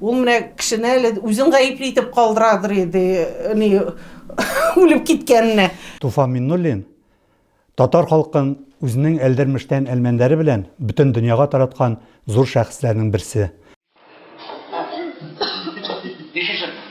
Ул менә кешене әле үзен гаепле итеп калдырадыр иде, ни үлеп киткәненә. Туфан Миннуллин татар халкын үзенең әлдермештән әлмәндәре белән бөтен дөньяга тараткан зур шәхесләрнең берсе.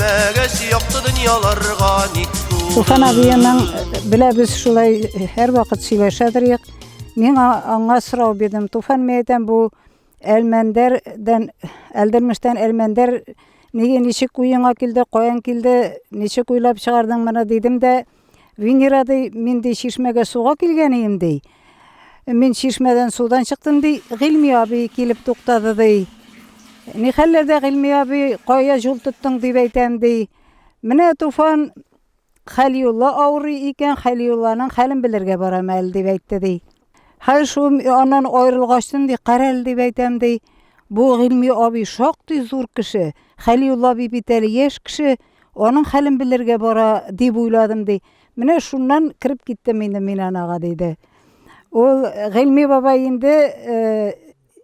Мәгәш якты дөньяларга ник Суфан абиның белә без шулай һәр вакыт сөйләшә торыйк. Мин аңа сорау бирдем. Туфан мен әйтәм, бу Әлмәндәрдән, Әлдермештән Әлмәндәр неге ничек уеңа килде, каян килде, ничек уйлап чыгардың моны дидем дә, Венера ди, мин ди чишмәгә суга килгән идем ди. Мин чишмәдән судан чыктым ди, Гыйльми абый килеп туктады ди. Ни хәлләрдә Гыйльми абый кая юл тоттың дип әйтәм ди. Менә Туфан Хәлиулла авырый икән, Хәлиулланың хәлен белергә барам әле дип әйтте ди. Хәл шу аннан аерылгач соң ди, карәл дип әйтәм ди. Бу гыйльми абый шактый зур кеше. Хәлиулла абый бит әле яшь кеше, аның хәлен белергә бара дип уйладым ди. Менә шуннан кереп киттем инде мин анага диде. Ул гыйльми бабай инде э,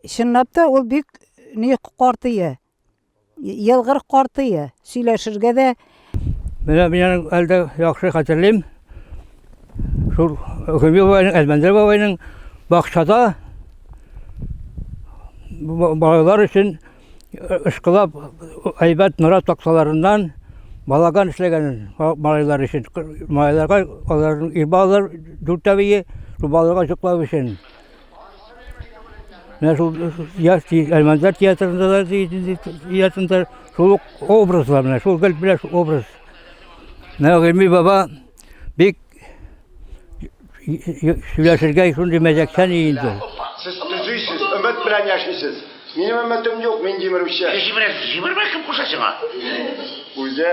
чынлап та ул бик ни картые. Елгыр картые, сөйләшергә дә. Менә мин аның әлдә яхшы хәтерлим. Шул Гөми бабайның, Әлмәндәр бабайның бакчада балалар өчен ышкылап әйбәт нора таксаларыннан балаган эшләгәнен малайлар өчен. Малайларга аларның ир балалар дүртәвие, шул балаларга җоклау өчен. Менә шул яз тиз Әлмәндәр театрында да театрында шул ук образлар менә шул гел белән шул образ. Менә Гыйми баба бик сөйләшергә шундый мәзәкчән инде. Сез төзисез, өмет белән яшисез. Минем өметем юк, мин җимерүче. Җимерәсез, җимермә кем куша сиңа? Үзе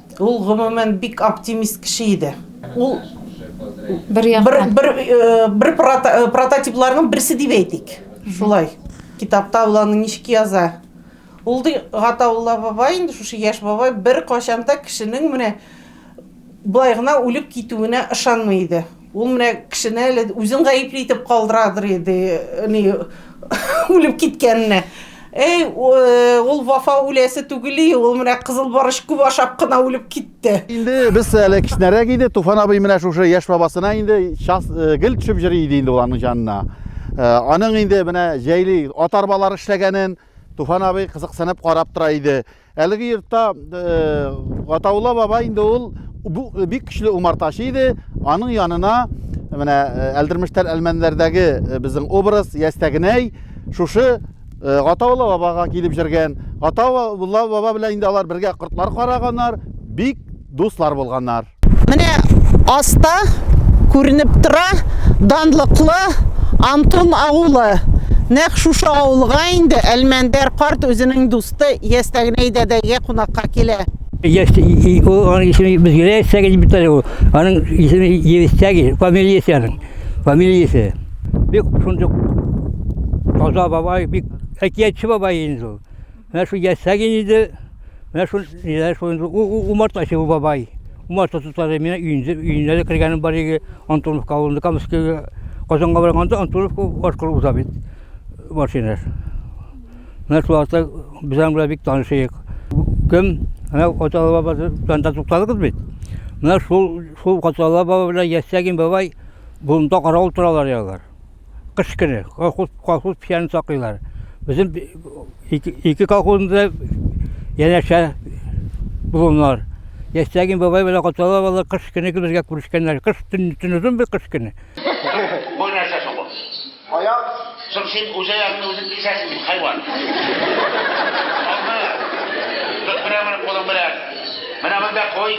Ул, гомумән, бик оптимист кеше иде. Ул бер яктан бер бер прототипларның берсе дип әйтик. Шулай. Китапта ул аны ничек яза? Ул ди Гатаулла бабай, инде шушы яшь бабай бер качан да кешенең менә болай гына үлеп китүенә ышанмый иде. Ул менә кешене әле үзен гаепле итеп калдырадыр иде, ни үлеп киткәненә. Әй, ул Вафа үләсе түгел, ул менә кызыл барыш күп ашап кына үлеп китте. Инде без әле кечнәрәк иде, Туфан абый менә шушы яшь бабасына инде час э, гел төшеп йөри иде инде уларның җанына. Э, аның инде менә җәйли атарбалар эшләгәнен Туфан абый кызыксынып карап тора иде. Әлеге йортта Гатаулла бабай инде ул бу бик көчле умартачы иде. Аның янына менә Әлдермештәр Әлмәнләрдәге безнең образ Ястәгенәй шушы Гатаулла бабага килеп җөргән. Гатаулла баба белән инде алар бергә кортлар караганнар. Бик Дуслар булганнар. Менә аста күренеп тора данлыклы Антон авылы. Нәк шушы авылга инде Әлмәндәр карт үзенең дусты Ястәгнәй дәдәгә кунакка килә. Яшь ул аның исеме без генә Ястәге дип бит әле ул. Аның исеме Ястәге, фамилиясе аның. Фамилиясе. Бик шундый таза бабай, бик әкиятче бабай инде ул. Менә шул ясәген иде. Менә шул ниләр шул инде умартачы бу бабай. Умарта тотады. Менә өйендә өенә дә кергәнем бар иде. Антоновка авылында Камскиге Казанга барганда Антоновка аркылы уза бит машина. Менә шул арта безнең белән бик танышыйк. Кем? Менә Аталы баба танда тукталыгыз бит. Менә шул шул Аталы баба белән Ясәгин бабай болында каравыл торалар ялар. Кыш көне колхоз, колхоз печәнен саклыйлар. Безнең б- ике, ике колхозында янәшә булымнар. Ястәгин бабай белән Катала бала кыш көне безгә күрешкәннәр. Кыш төн, төн озын бит кыш көне. Бу нәрсә соң бу? Аяк. Соң син үз аягыңны үзең кисәсең бит, хайван. Алма. Тот менә моны кулың белән. Менә монда куй.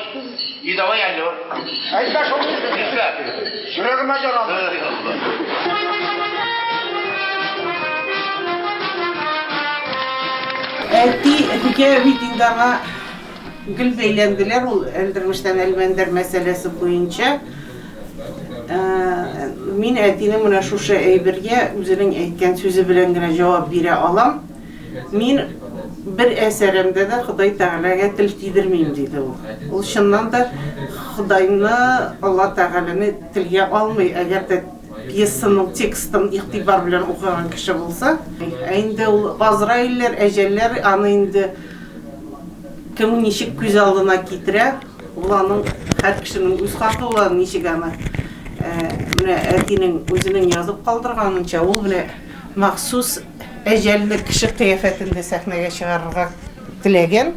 И давай алло. Әйтмә шул сүзне дисә. Йөрәгемә ярамый. Әти, әтигә бит инде аңа гел бәйләнделәр ул Әлдермештән Әлмәндәр мәсьәләсе буенча. Мин әтинең менә шушы әйбергә үзенең әйткән сүзе белән генә җавап бирә алам. Мин бер әсәремдә дә Ходай Тәгаләгә тел тидермим, диде ул. Ул чыннан да Ходайны, Алла Тәгаләне телгә алмый, әгәр дә пьесаның текстын игътибар белән укыган кеше булса. Ә инде ул Газраилләр, әҗәлләр аны инде кем ничек күз алдына китерә, ул аның һәр кешенең үз хакы ул аны ничек аны менә әтинең үзенең язып калдырганынча ул менә Махсус әҗәлне кеше кыяфәтендә сәхнәгә чыгарырга теләгән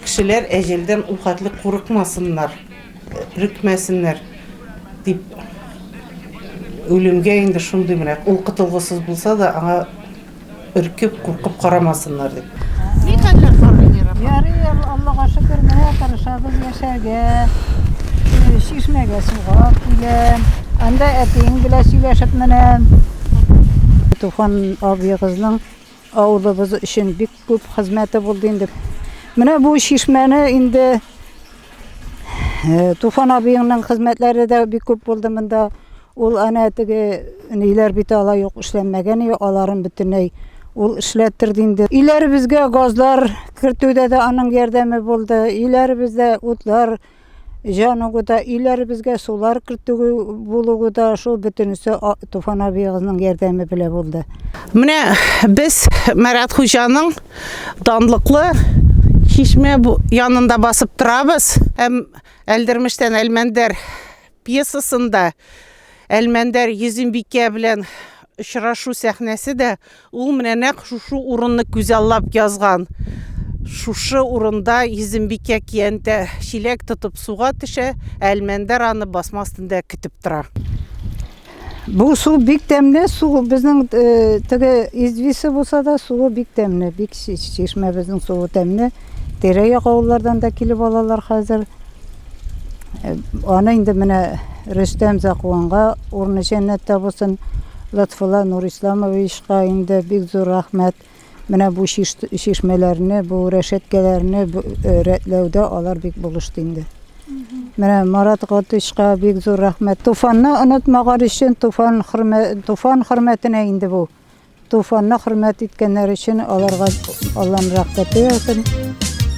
кешеләр әҗәлдән ул хәтле курыкмасыннар, өрекмәсеннәр дип, үлемгә инде шундый менә, ул котылгысыз булса да, аңа өркеп, куркып карамасыннар дип. Ни хәлләр бар, Венера апа? Ярый, Аллага шөкер, менә тырышабыз яшәргә. Э, Чишмәгә суга киләм. Анда әтиең белән сөйләшеп менәм. Туфан абыегызның авылыбыз өчен бик күп хезмәте булды инде. Менә бу чишмәне инде э, Туфан абыеңның хезмәтләре дә бик күп булды монда. Ул әнә теге ниләр бит ала юк эшләнмәгән и аларын бөтенләй ул эшләттер инде. Иләребезгә газлар кертүдә дә аның ярдәме булды. Иләребездә утлар җанугы да, иләребезгә сулар кертү булуы да шул бөтенесе Туфан абыегызның ярдәме белән булды. Менә без Марат хуҗаның данлыклы чишмә янында басып торабыз. Һәм Әлдермештән Әлмәндәр Пьесасында Әлмәндәр Йөзембикә белән очрашу сәхнәсе дә ул менә нәкъ шушы урынны күзаллап язган. Шушы урында Йөзембикә киянтә чиләк тотып суга төшә, ә Әлмәндәр аны басма астында көтеп тора. Бу су бик тәмле су. Безнең теге извисе булса да суы бик тәмле. Бик чишмәбезнең суы тәмле. Тирә-як авыллардан да килеп алалар хәзер. Аны инде менә Рөстәм Закуанга урыны җәннәттә булсын. Лотфулла Нурисламовичка инде бик зур рәхмәт. Менә бу чишмәләрне, бу рәшәткәләрне рәтләүдә алар бик булышты инде. Менә Марат Гатышка бик зур рәхмәт. Туфанны онытмаган өчен Туфан хөрмәт Туфан хөрмәтенә инде бу. Туфанны хөрмәт иткәннәр өчен аларга Аллаһның рәхмәте яусын.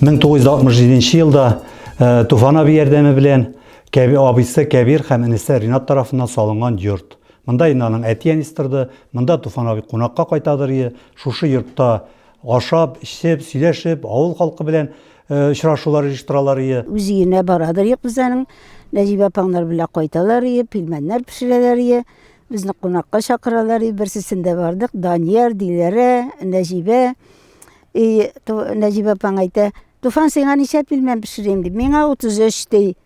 1967 нче елда э, Туфан абый ярдәме белән Кәби абыйсы Кәбир һәм энесе Ринат тарафыннан салынган йорт. Монда инде аның әти-әнисе торды, монда Туфан абый кунакка кайтадыр ие, шушы йортта ашап, эчеп, сөйләшеп, авыл халкы белән э, очрашулар оештыралар ие. Үз өенә барадыр ие кызларның, Нәҗибә апаңнар белән кайталар ие, пилмәннәр пешерәләр ие. Безне кунакка чакыралар ие, берсесендә бардык, Данияр, Диләрә, Нәҗибә. И Нәҗибә апаң әйтә, Туфан, сиңа ничә пилмән пешерим дип. Миңа 33 ди.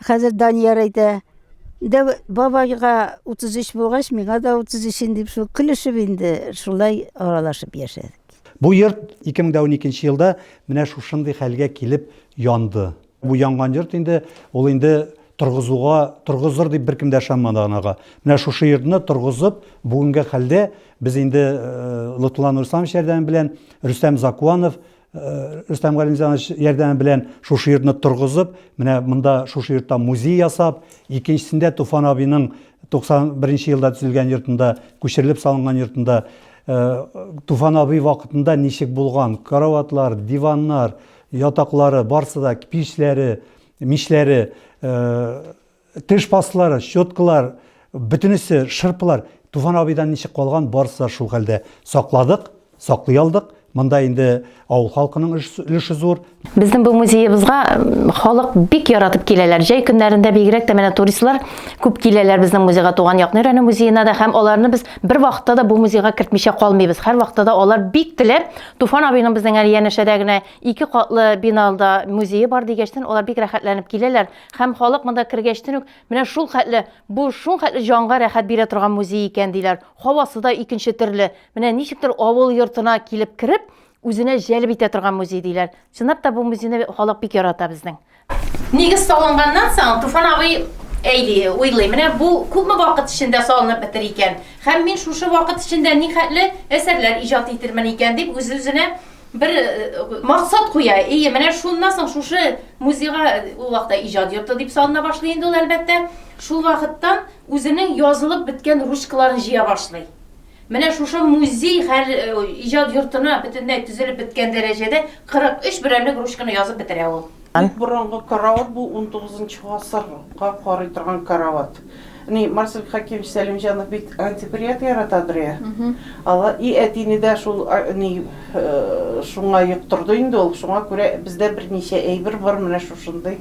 Хәзер Данияр әйтә, дә бабайга 33 булгач, миңа да 33 инде дип шул көлешеп инде шулай аралашып яшәдек. Бу йорт 2012 елда менә шушындый хәлгә килеп янды. Бу янган йорт инде, ул инде торгызуга, торгызыр дип беркем дә ышанмады анага. Менә шушы йортны торгызып, бүгенге хәлдә без инде Лотфулла Нурисламович ярдәме белән, Рөстәм Закуанов, Рөстәм Галимҗанович ярдәме белән шушы йортны торгызып, менә монда шушы йортта музей ясап, икенчесендә Туфан абыйның 91 нче елда төзелгән йортында, күчерелеп салынган йортында Туфан абый вакытында ничек булган, караватлар, диваннар, Ятаклары, барсы да, пичләре, мичләре, теш пасталары, щеткалар, бөтенесе, шырпылар. Туфан абыйдан ничек калган, барысы да шул хәлдә. Сакладык, саклый алдык. Монда инде авыл халкының өлеше зур. Безнең бу музеебызга халык бик яратып киләләр. Җәй көннәрендә бигрәк тә менә туристлар күп киләләр безнең музейга, Туган якны өйрәнү музеена да һәм аларны без бер вакытта да бу музейга кертмичә калмыйбыз. Һәр вакытта да алар бик теләп Туфан абыйның безнең әле янәшәдә генә ике катлы биналда музее бар дигәчтен, алар бик рәхәтләнеп киләләр. Һәм халык монда кергәчтен үк, менә шул хәтле, бу шул хәтле җанга рәхәт бирә торган музей икән диләр. Һавасы да икенче төрле. Менә ничектер авыл йортына килеп кереп, үзенә җәлеп итә торган музей диләр. Чынлап та бу музейны халык бик ярата безнең. Нигез салынганнан соң Туфан абый әйли, уйлый, менә бу күпме вакыт эчендә салынып бетер икән? Һәм мин шушы вакыт эчендә ни хәтле әсәрләр иҗат итермен икән дип үз-үзенә бер э, максат куя. Ие, менә шуннан соң шушы музейга э, ул вакытта иҗат йорты дип салына башлый инде ул, әлбәттә. Шул вакыттан үзенең язылып беткән ручкаларын җыя башлый. Менә шушы музей хәл иҗат йортына бөтенләй төзелеп беткән дәрәҗәдә 43 берәмлек ручканы язып бетерә ул. Бик борынгы карават бу, унтугызынчы гасырга карый торган карават. Ни, Марсель Хәкимович Сәлимҗанов бит антиквариат яратадыр я? Ала, и әтине дә шул ни шуңа йоктырды инде ул, шуңа күрә бездә берничә әйбер бар менә шушындый.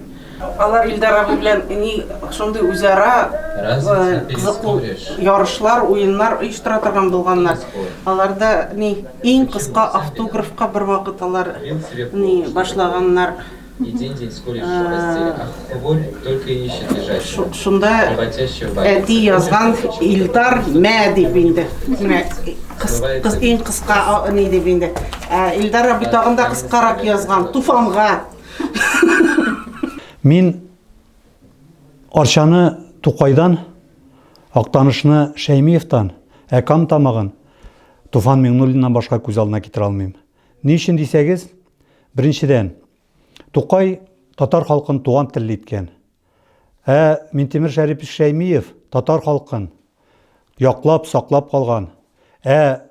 Алар Илдар абый белән ни шундый үзара кызыклы ярышлар, уеннар оештыра торган булганнар. Аларда ни иң кыска автографка бервакыт алар ни башлаганнар. И день день скорее расцвет, а хворь только и ищет лежащего. Шунда әти язган Илдар мә дип инде. Кыз, кыз иң кыска ни дип инде. Илдар абый тагында кыскарак язган Туфанга. Мин Арчаны Тукайдан, Актанышны Шәймиевтан, ә Кам тамагын Туфан Миңнуллиннан башка күз алдына китерә алмыйм. Ни өчен дисәгез, беренчедән, Тукай татар халкын туган телле иткән. Ә Минтимер Шәрипович Шәймиев татар халкын яклап, саклап калган. Ә